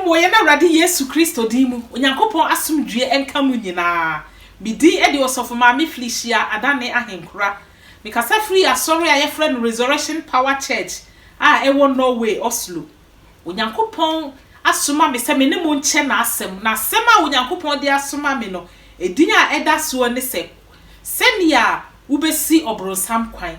Wɔ yɛn Awurade Yesu Kristo din mu, Onyankopɔn asomdwoeɛ nka mo nyinaa. Me din de Ɔsɔfo Maame Felicia Adanne Ahenkura. Mekasa firi asɔre a yɛfrɛ no Resurrection Power Church a ɛwɔ Norway, Oslo. Onyankopɔn asoma me sɛ me ne mo nkyɛ N'asɛm, na asɛm a Onyankopɔn de asoma me no, edin a ɛda soɔ ne sɛ, Sɛdeɛ Wobɛsi Ɔbronsam Kwan.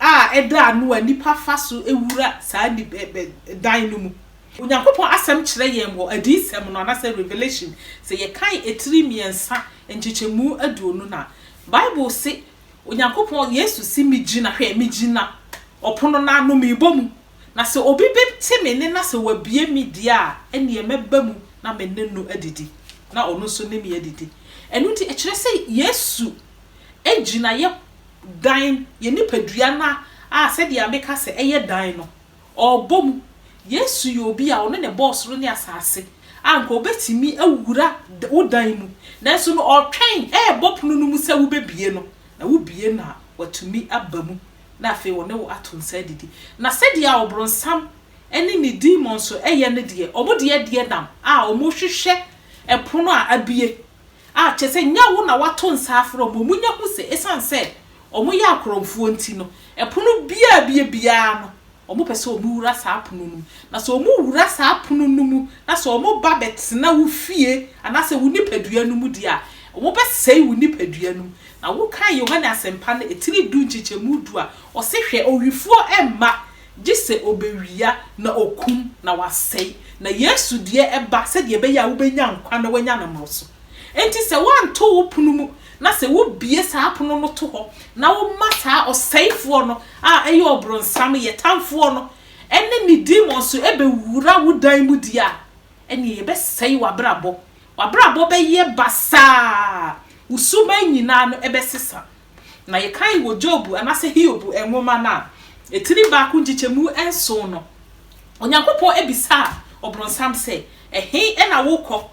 a ɛda ano a nnipa fa so wura saa ni bɛ bɛ dan no mu. Onyankopɔn Asɛm kyerɛ yɛn wɔ Adiyisɛm no, anaasɛ Revelation, sɛ yɛkan atiri mmiɛnsa, nkyekyɛmu aduonu no a, Bible se, Onyankopɔn, Yesu se, Megyina, hwɛ, megyina ɔpono no ano, mebɔ mu, na sɛ obi bɛte me nne na sɛ wabue me deɛ a, ɛnneɛ mɛba mu na me ne no adidi, na ɔno nso ne me adidi. Ɛno nti, ɛkyerɛ sɛ Yesu gyinaeɛ dan, yɛn nipadua no a sɛdeɛ meka sɛ ɛyɛ dan no, ɔrebɔ mu. Yesu yɛ obi a ɔno na ɛbɔɔ soro ne asase, a nka ɔbɛtumi awura wo dan mu, nanso no ɔretwɛn, ɛrebɔ pono no mu sɛ wobɛbue no, na wobue no a, watumi aba mu, na afei ɔne wo ato nsa adidi. Na sɛdeɛ a ɔbronsam ne ne demons yɛ no deɛ, wɔn deɛ deɛ nam a wɔrehwehwɛ pono a abue, a, kyerɛ sɛ nyɛ wo na woato nsa afrɛ wɔn. Munya hu sɛ esiane sɛ wɔyɛ akorɔmfoɔ nti no, pono biara a ɛbue biara no, wɔpɛ sɛ wɔwura saa pono no mu. Na sɛ wɔwura saa pono no mu, na sɛ wɔba bɛtena wo fie anaasɛ wo nipadua no mu deɛ a, wɔbɛsɛe wo nipadua no mu. Na wokan Yohane Asɛmpa no tiri du nkyekyɛmu du a, ɔse, Hwɛ, owifoɔ mma Gye sɛ ɔbɛwia na ɔkum na wasɛe, na Yesu deɛ ɛba sɛdeɛ ɛbɛyɛ a wobɛnya nkwa na woanya no mmoroso. Enti sɛ woanto wo pono mu na sɛ wobue saa pono no to hɔ na woma saa ɔsɛefoɔ no a ɛyɛ ɔbronsam, yɛ tamfoɔ no, ne ne demons bɛwura wo dan mu die a, ɛnneɛ yɛbɛsɛe w'abrabɔ. W'abrabɔ bɛyɛ basaa, wo suban nyinaa no bɛsesa. na yɛkan wɔ Job anaasɛ Hiob nwoma no a, etiri baako nkyekyɛmu nson no, Onyankopɔn bisaa Ɔbronsam sɛ, Ɛhe na worekɔ?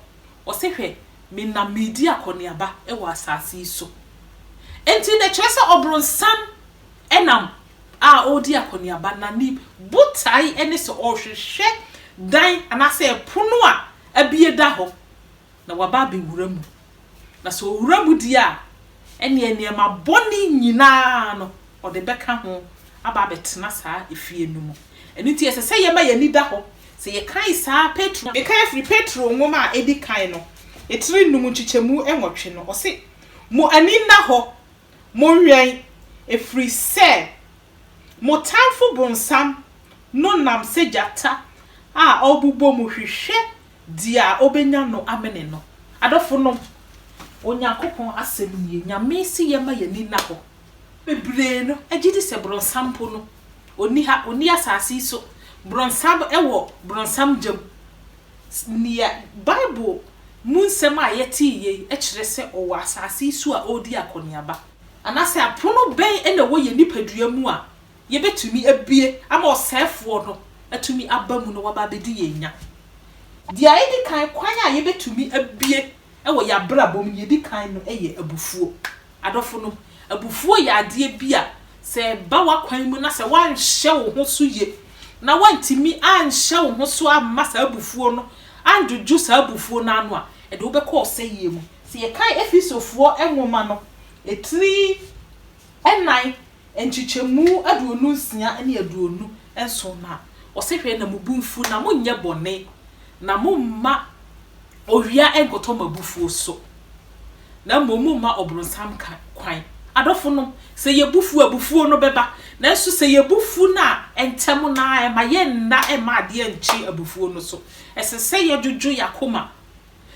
Ɔse, Hwɛ, menam meredi akɔneaba wɔ asase yi so. Enti na ɛkyerɛ sɛ Ɔbronsam nam a ɔredi akɔneaba, na ne botae ne sɛ ɔrehwehwɛ dan anaasɛ pono a abue da hɔ. na waba abɛwura mu, na sɛ ɔwura mu deɛ a, ɛnneɛ nneɛma bɔne nyina ara no, ɔde bɛka ho aba abɛtena saa efie no mu. Ɛno nti, ɛsɛ sɛ yɛma yɛn ani da hɔ. Sɛ yɛkan saa Petro, mekan firi Petro nwoma a ɛdi kan no, tiri nnum nkyekyɛmu nwɔtwe no, ɔse, Mo ani nna hɔ, monwɛn, ɛfiri sɛ mo tamfo bonsam no nam sɛ gyata a ɔrebobɔ mu hwehwɛ Dea obenya no amene no. Adɔfonom, Onyankopɔn asɛm nie, Nyame se yɛma y'ani nna hɔ. Bebree no gye di sɛ bronsam mpo no, onni ha, onni asase yi so. Bronsam wɔ bronsam gya mu. Nea Bible mu nsɛm a yɛte yi yei kyerɛ sɛ ɔwɔ asase yi so a ɔredi akɔneaba. Anaasɛ apono bɛn na ɛwɔ yɛn nipadua mu a yɛbɛtumi abue ama ɔsɛefoɔ no atumi aba mu na waba abɛdi yɛn nya. Deɛ ɛdi kan, kwan a yɛbɛtumi abue wɔ yɛn abrabɔ mu, deɛ ɛdi kan no yɛ abufuo. Adɔfonom, abufuo yɛ adeɛ bi a sɛ ɛba w'akwan mu na sɛ woanhyɛ wo ho so yie na woantumi anhyɛ wo ho so amma saa abufuo no andwodwo saa abufuo no ano a, ɛde wo bɛkɔ ɔsɛeɛ mu. Sɛ yɛkan Efesofoɔ nwoma no, ɛtiri Nnan, nkyekyɛmu aduonu nsia ne aduonu nson na ɔse hwɛ na mo bo mfu na mo nyɛ bɔne na mo mma owia nkɔtɔ mo abufuo so na mmom mo mma ɔbronsam kwan. Adɔfo nom, sɛ yɛ bo fu a abufuo no bɛba nanso sɛ yɛ bo fu no a ntɛm no ara ɛma yɛ nna mma adeɛ nkye abufuo no so. Ɛsɛ sɛ yɛ dwodwo yɛ akoma.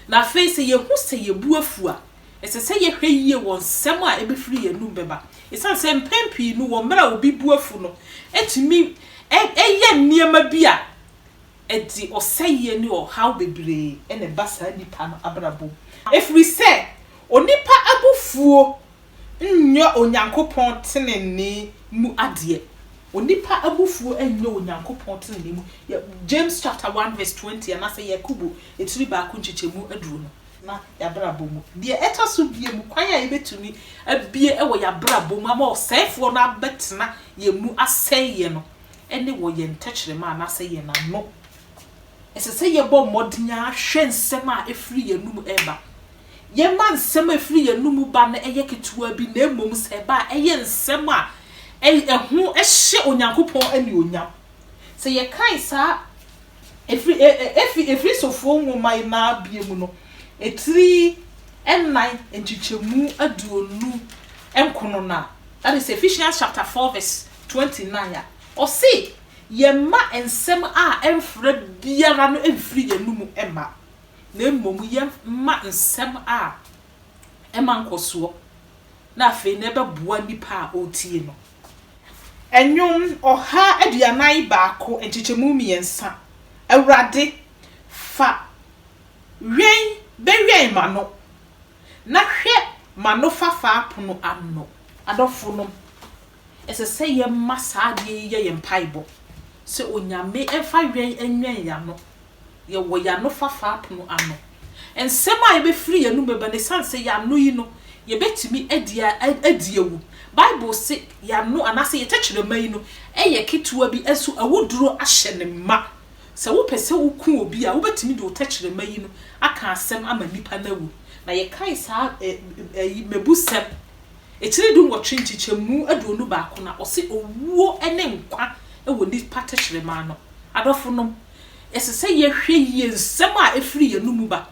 Na afei sɛ yehu sɛ yɛn bo afuw a, ɛsɛ sɛ yɛhwɛ yiye wɔ nsɛm a ebefiri yɛn anom bɛba, esiane sɛ mpɛn pii no wɔ mmere a obi bo afuw no, etumi yɛ nneɛma bi a ɛde ɔsɛe ne ɔhaw bebree na ɛba saa nipa no abrabɔ mu. Efiri sɛ onipa abufuo nnyɛ Onyankopɔn tenenee mu adeɛ. Onipa abufuo nnyɛ Onyankopɔn tenenee mu. Yɛ James chapter one verse twenty anaasɛ Yakobo etiri baako nkyekyɛmu aduro no. Na y'abrabɔ mu. Deɛ ɛtɔ so biemu, kwan a yɛbɛtumi abue wɔ y'abrabɔ mu ama ɔsɛefoɔ no abɛtena yɛn mu asɛe yɛn no, ɛne wɔ yɛn tɛkyerɛma anaasɛ yɛn ano Ɛsɛ sɛ yɛbɔ mmɔden ara hwɛ nsɛm a ɛfiri yɛn anom reba. Yɛmma nsɛm a ɛfiri yɛn anom ba no nyɛ ketewa bi, na mmom sɛ ɛba a, ɛyɛ nsɛm a ɛho hyɛ Onyankopɔn anuonyam. Sɛ yɛkan saa Efri, e, e, Efi, Efesofoɔ nwoma yi naa bie mu no, etiri nnan nkyekyɛmu aduonu nkono no a, that is Ephesians chapter 4 verse 29 a, ɔse, Yɛmma nsɛm a ɛmfra biara no mfiri yɛn anom mma, na mmom yɛmma nsɛm a ɛma nkɔsoɔ na afei na ɛbɛboa nipa a ɔretie no. Nnwom ɔha aduanan baako nkyekyɛmu mmiɛnsa. Awurade, fa wɛn bɛwɛn m'ano, na hwɛ m'anofafa pono ano. Adɔfonom, Ɛsɛ sɛ yɛma saa adeɛ yi yɛ yɛn mpaebɔ, sɛ Onyame mfa wɛn nwɛn yɛn ano. Yɛwɔ yɛn anofafa apono ano. Nsɛm a ɛbɛfiri yɛn anom bɛba no, ɛsiane sɛ yɛn ano yi no, yɛbɛtumi adi adi awu. Bible se, yɛn ano anaasɛ yɛn tɛkyerɛma yi no yɛ ketewa bi, nso awuduro ahyɛ no ma. Sɛ wopɛ sɛ woku obi a, wobɛtumi de wo tɛkyerɛma yi no aka asɛm ama nipa no awu. Na yɛkae saa mmebusɛm Akyire dunwɔtwe nkyekyɛmu aduonu baako na ɔse owuo ne nkwa wɔ nipa tɛkyerɛma ano. Adɔfonom, ɛsɛ sɛ yɛhwɛ yie nsɛm a ɛfiri yɛn anomu ba.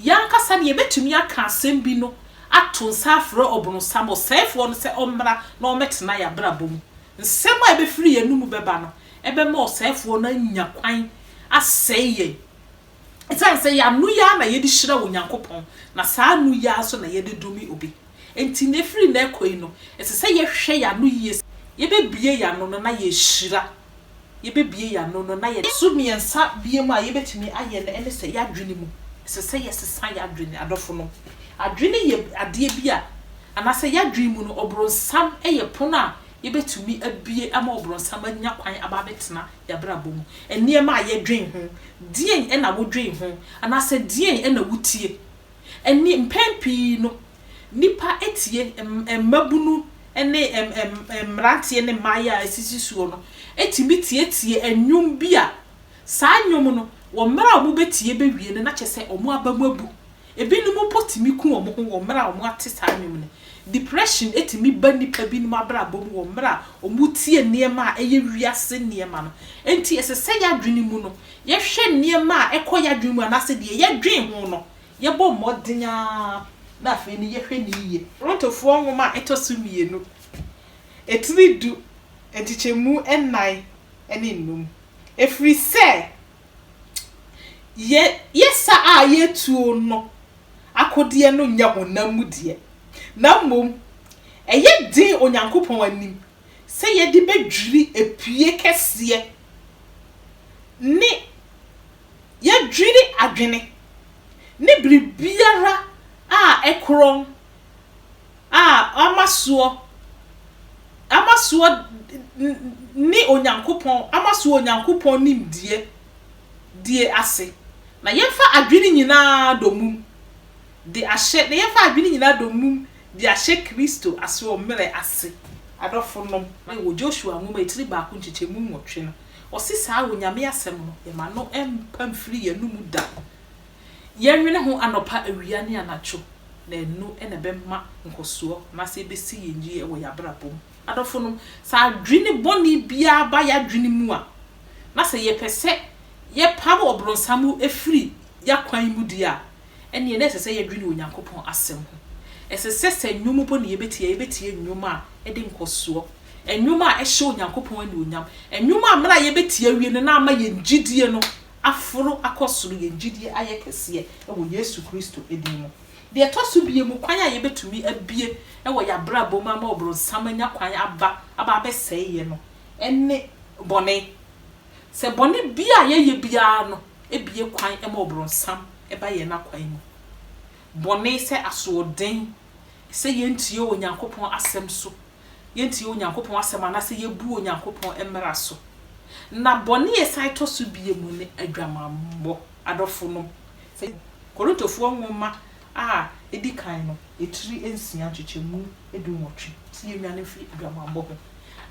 Yɛn ankasa no yɛbɛtumi aka asɛm bi no ato nsa afrɛ ɔbronsam, ɔsɛefoɔ no sɛ ɔmmra na ɔmmɛtena yɛn abrabɔ mu. Nsɛm a ɛbɛfiri yɛn anomu bɛba no bɛma ɔsɛefoɔ no anya kwan asɛe yɛn. Esiane sɛ yɛn ano yi ara na yɛde hyira Onyankopɔn, na saa ano yi ara nso na yɛde dome obi nti, na ɛfiri nnɛ rekɔ yi no, ɛsɛ sɛ yɛhwɛ yɛn ano yie sɛ yɛbɛbue yɛn ano no na yɛahyira. Yɛbɛbue yɛn ano no na yɛ. So mmiɛnsa biom a yɛbɛtumi ayɛ no ne sɛ, yɛn adwene mu. Ɛsɛ sɛ yɛsesa yɛn adwene, adɔfonom. Adwene yɛ adeɛ bi a, anaasɛ yɛn adwene mu no, ɔbronsam yɛ pono a yɛbɛtumi abue ama ɔbronsam anya kwan aba abɛtena. y'abrabɔ mu? Nneɛma a yɛdwen ho, deɛn na wodwen ho? Anaasɛ deɛn na wotie? Ɛnneɛ mpɛn pii no, nnipa tie, mmabunu ne mmeranteɛ ne mmaayɛ a asisi soɔ no tumi tietie nnwom bi a, saa nnwom no, wɔ mmerɛ a wɔbɛtie bɛwie no, na kyerɛ sɛ wɔn aba mu abu. Ebinom mpo tumi ku wɔn ho wɔ mmerɛ a wɔate saa nnwom no. Depression tumi ba nnipa binom abrabɔ mu wɔ mmerɛ a wɔtie nneɛma a ɛyɛ wiase nneɛma no. Enti ɛsɛ sɛ yɛn adwene mu no, yɛhwɛ nneɛma a ɛkɔ yɛn adwene mu anaasɛ deɛ yɛdwen ho no, yɛbɔ mmɔden ara na afei no yɛhwɛ no yie. Korintofoɔ nwoma a ɛtɔ so mmienu, etiri du, nkyekyɛmu nnan ne nnum. Ɛfiri sɛ Yɛ yɛsa a yɛtuo no akodeɛ no nyɛ honam mu deɛ, na mmom ɛyɛ den Onyankopɔn anim sɛ yɛde bɛdwiri apie kɛseɛ ne yɛdwiri adwene ne biribiara a ɛkorɔn a ama soɔ, ama soɔ ne Onyankopɔn, ama soɔ Onyankopɔn nimdeɛ die ase, na yɛmfa adwene nyina ara domum de ahyɛ, na yɛmfa adwene nyina ara domum de ahyɛ Kristo asoɔmmerɛ ase. Adɔfo nom, wɔ Joshua Nwoma etiri baako nkyekyɛmu nwɔtwe no, ɔse saa Onyame Asɛm no, yɛma no mmpa mfiri yɛn anomu da. Yɛnwene ho anɔpa, awia ne anadwo, na ɛno na ɛbɛma nkɔsoɔ anaasɛ ɛbɛsi yɛn yie wɔ yɛn abrabɔ mu. Adɔfonom, sɛ adwene bɔne biara ba yɛn adwene mu a, na sɛ yɛpɛ sɛ yɛpam ɔbronsam firi yɛn akwan mu deɛ a, ɛnneɛ na ɛsɛ sɛ yɛdwene Onyankopɔn Asɛm ho. Ɛsɛ sɛ sɛ nnwom mpo na yɛbɛtie a, yɛbɛtie nnwom a ɛde nkɔsoɔ, nnwom a ɛhyɛ Onyankopɔn anuonyam, nnwom a mmerɛ a yɛbɛtie awie no na ama yɛn gyedie no aforo akɔ soro, yɛn gyidie ayɛ kɛseɛ wɔ Yesu Kristo din mu. Deɛ ɛtɔ so biemu, kwan a yɛbɛtumi abue wɔ yɛn abrabɔ mu ama ɔbronsam anya kwan aba aba abɛsɛe yɛn no ne bɔne. Sɛ bɔne biara a yɛyɛ biara no bue kwan ma ɔbronsam ba yɛn akwan mu. Bɔne sɛ asoɔden, sɛ yɛntie Onyankopɔn asɛm so, yetie Onyankopɔn Asɛm anaasɛ yebu Onyankopɔn mmara so. Na bɔne a ɛsan tɔ so bio ne aguamammɔ. Adɔfonom, sɛ Korintofoɔ nwoma a edi kan no tiri nsia nkyekyɛmu dunwɔtwe se yennwane mfiri aguamammɔ ho.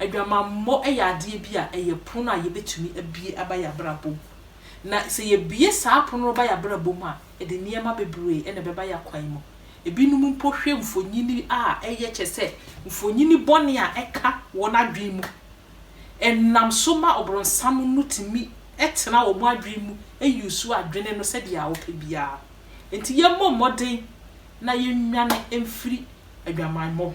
Aguamammɔ yɛ adeɛ bi a ɛyɛ pono a yebetumi abue aba yɛn abrabɔ mu. Na sɛ yebue saa pono no ba yɛn abrabɔ mu a, Ɛde nneɛma bebree na ɛbɛba yɛn kwan mu. Ebinom mpo hwɛ mfonini a ɛyɛ kyerɛ sɛ mfonini bɔne a ɛka wɔn adwene mu. Ɛnam so ma Ɔbonsam no tumi tena wɔn adwene mu use adwene no sɛdeɛ ɔpɛ biara. Enti yɛmmɔ mmɔden na yɛnnwane mfiri adwamammɔ ho.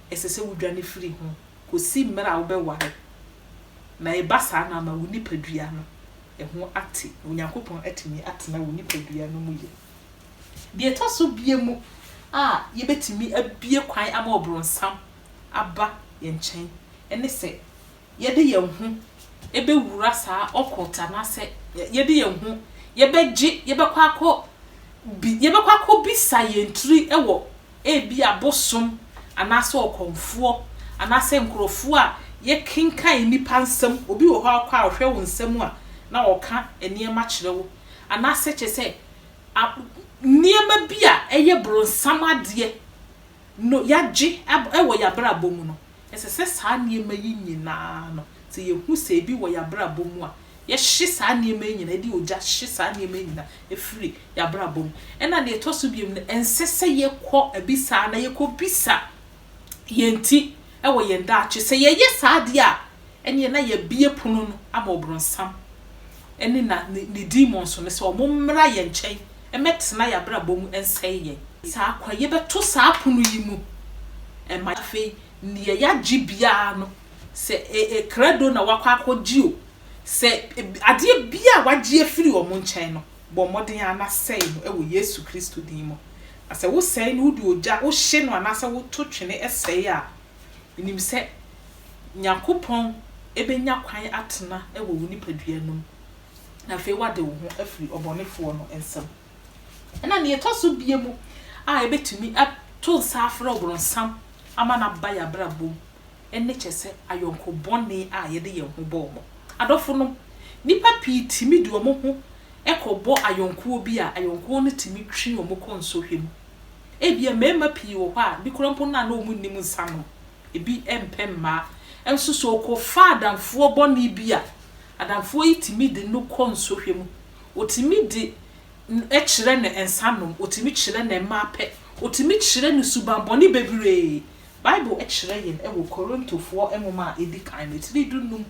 ɛsɛ sɛ wudwane firi ho kosi mmere a wobɛware, na ɛba saa no ama wo nipadua no ho ate, na Onyankopɔn atumi atena wo nipadua no mu yie. Deɛ ɛtɔ so bia mu a yɛbɛtumi abue kwan ama ɔbronsam aba yɛn nkyɛn ne sɛ yɛde yɛn ho bɛwura saa occult anaasɛ yɛde yɛn ho yɛbɛgye, yɛbɛkɔ akɔ bi, yɛbɛkɔ akɔbisa yɛn tiri wɔ ebia bosom anaasɛ ɔkɔmfoɔ anaasɛ nkurɔfoɔ a yɛkenkan nnipa nsɛm, obi wɔ hɔ a wokɔ a ɔhwɛ wo nsɛm a na ɔka nneɛma kyerɛ wo anaasɛ kyerɛ sɛ nneɛma bi a ɛyɛ bronsam adeɛ no yɛagye wɔ yɛn abrabɔ mu no, ɛsɛ sɛ saa nneɛma yi nyinaa no sɛ yɛhu sɛ ebi wɔ yɛn abrabɔ mu a Yɛhye saa nneɛma yi nyinaa, yɛde ogya hye saa nneɛma yi nyinaa firi yɛn abrabɔ mu. Ɛnna nea ɛtɔ so biom no, ɛnsɛ sɛ yɛkɔ abisa anaa yɛkɔbisa yɛn ti wɔ yɛn daakye. Sɛ yɛyɛ saa deɛ a, ɛnneɛ na yɛabue pono no ama Ɔbronsam ne na ne demons no sɛ wɔmmra yɛn nkyɛn mmɛtena yɛn abrabɔ mu nsɛe yɛn. Saa kwan yi, yɛbɛto saa pono yi mu ma afei nea yɛagye biara no sɛ e krado na woakɔ akɔgye o, sɛ e adeɛ biara a wɔagye afiri wɔn nkyɛn no, bɔ mmɔden ara na sɛe no wɔ Yesu Kristo din mu. Na sɛ wosɛe no, wode ogya wohye no anaasɛ woto twene sɛe a, nim sɛ Nyankopɔn bɛnya kwan atena wɔ wo nipadua no mu, na afei woade wo ho afiri ɔbɔnefoɔ no nsam. Ɛna deɛ ɛtɔ so bie mu a yɛbɛtumi ato nsa afrɛ ɔbronsam ama no aba yɛn abrabɔ mu, ne kyɛ sɛ ayɔnko bɔne a yɛde yɛn ho bɔ wɔn. Adɔfonom, nnipa pii tumi de wɔn ho kɔbɔ ayɔnkoɔ bi a, ayɔnkoɔ no tumi twe wɔn kɔ nsɔhwɛ mu. Ebia mmarima pii wɔ hɔ a, bi koraa mpo no a na wɔnnim nsa nom, ebi mpɛ mmaa. Nso sɛ ɔkɔfa adamfoɔ bɔne bi a, adamfoɔ yi tumi de no kɔ nsɔhwɛ mu. Ɔtumi de no kyerɛ no nsa nom, ɔtumi kyerɛ no mmaa pɛ, ɔtumi kyerɛ no subammɔne bebree Bible kyerɛ yɛn wɔ Korintofoɔ nwoma a ɛdi kan no, tiri du nnum,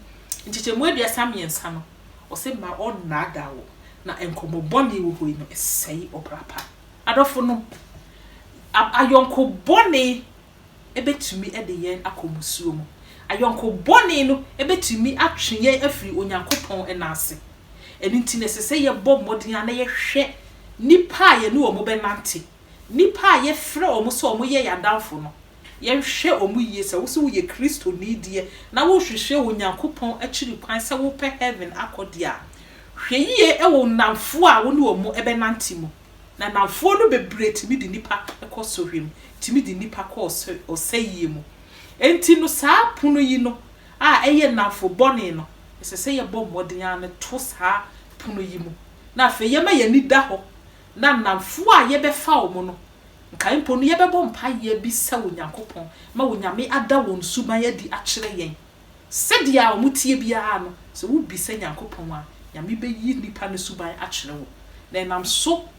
nkyekyɛmu aduasa mmiɛnsa no, ɔse mma ɔnnaadaa wo, na nkɔmmɔ bɔne wɔ hɔ yi no ɛsɛe ɔbra pa. Adɔfo nom, ayɔnko bɔne bɛtumi de yɛn akɔ mmusuo mu. Ayɔnko bɔne no bɛtumi atwe yɛn afiri Onyankopɔn nan ase. Ɛno nti na ɛsɛ sɛ yɛbɔ mmɔden ara na yɛhwɛ nnipa a yɛne wɔn bɛnante. Nnipa a yɛfrɛ wɔn sɛ wɔyɛ yɛn adamfo no, yɛnhwɛ wɔn yie. Sɛ wo nso woyɛ Kristoni deɛ na worehwehwɛ Onyankopɔn akyiri kwan sɛ wopɛ heaven akɔ deɛ a, hwɛ yie wɔ wo nnamfoɔ a wo ne wɔn bɛnante mu. Na nnamfoɔ no bebree tumi de nnipa kɔ sɔhwɛ mu, tumi de nnipa kɔ ɔsɛeɛ mu. Enti no saa pono yi no a ɛyɛ nnamfo bɔne no, ɛsɛ sɛ yɛbɔ mmɔden ara no to saa pono yi mu. Na afei yɛma yɛn ani da hɔ Na nnamfoɔ a yɛbɛfa wɔn no, nkae mpo no yɛbɛbɔ mpaeɛ abisa Onyankopɔn ma Onyame ada wɔn suban adi akyerɛ yɛn. Sɛdeɛ a wɔteɛ biara no, sɛ wobisa Nyankopɔn a, Nyame bɛyi nnipa no suban akyerɛ wɔn, na ɛnam so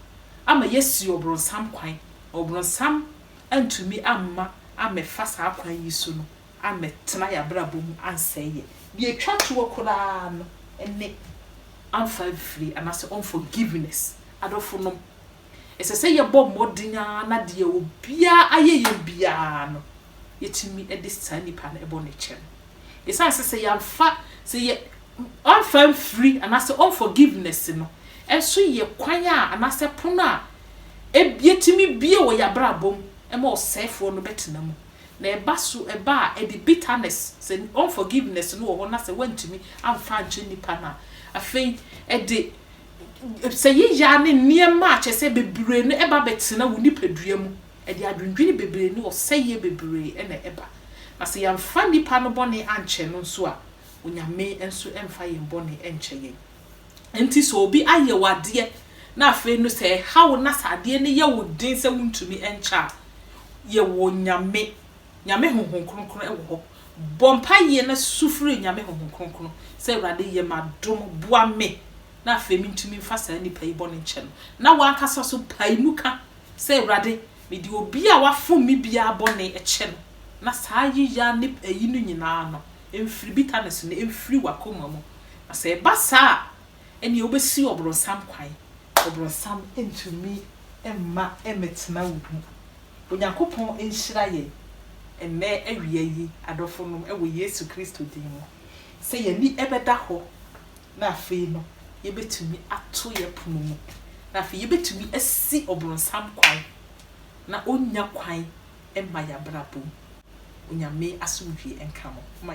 ama yɛasi ɔbronsam kwan, na ɔbronsam antumi amma ammɛfa saa kwan yi so no ammɛtena yɛn abrabɔ mu ansɛe yɛn. Deɛ ɛtwa toɔ koraa no ne amfa amfiri anaasɛ unforgiveness. Adɔfonom, ɛsɛ sɛ yɛbɔ mmɔden ara na deɛ obiara ayɛ yɛn biara no, yɛtumi de saa nipa no bɔ no kyɛ no. Ɛsiane sɛ sɛ yɛamfa, sɛ yɛ, amfa amfiri anaasɛ unforgiveness no nso yɛ kwan a anaasɛ pono a ɛtumi bue wɔ yɛn abrabɔ mu ma ɔsɛefoɔ no bɛtena mu. Na ɛba so ɛba a ɛde bitterness, sɛ unforgiveness no wɔ hɔ na sɛ woantumi amfa ankyɛ nnipa no a, afei ɛde sɛ yeyaa ne nneɛma a kyerɛ sɛ bebree no ɛba bɛtena wo nipadua mu, ɛde adwendwene bebree ne ɔsɛeɛ bebree na ɛba. Na sɛ yɛamfa nnipa no bɔne ankyɛ no nso a, Onyame nso mfa yɛn bɔne nkyɛ yɛn. Enti sɛ obi ayɛ wo adeɛ na afei no sɛ ɛha wo na sɛ adeɛ no yɛ wo den sɛ wontumi nkyɛ a, yɛ wɔ Nyame, Nyame Honhom Kronkron wɔ hɔ. Bɔ mpaeɛ na su frɛ Nyame Honhom Kronkron sɛ, Awurade yɛ me adom, boa me na afei mentumi mfa saa nipa yi bɔne nkyɛ no. Na w'ankasa nso pae mu ka sɛ, Awurade, mede obi a wafom me biara bɔne kyɛ no, na saa yeya ne ayi no nyinaa no, mfiri bitterness no mfiri w'akoma mu, na sɛ ɛba saa a, ɛnneɛ wobɛsi ɔbronsam kwan. Ɔbronsam ntumi mma mmɛtena wo mu. Onyankopɔn nhyira yɛn ɛnnɛ awia yi, adɔfonom, wɔ Yesu Kristo din mu, sɛ yɛn ani bɛda hɔ, na afei no yɛbɛtumi ato yɛn pono mu, na afei yɛbɛtumi asi ɔbronsam kwan, na ɔnnya kwan mma yɛn abrabɔ mu. Onyame asomdwoeɛ nka mo.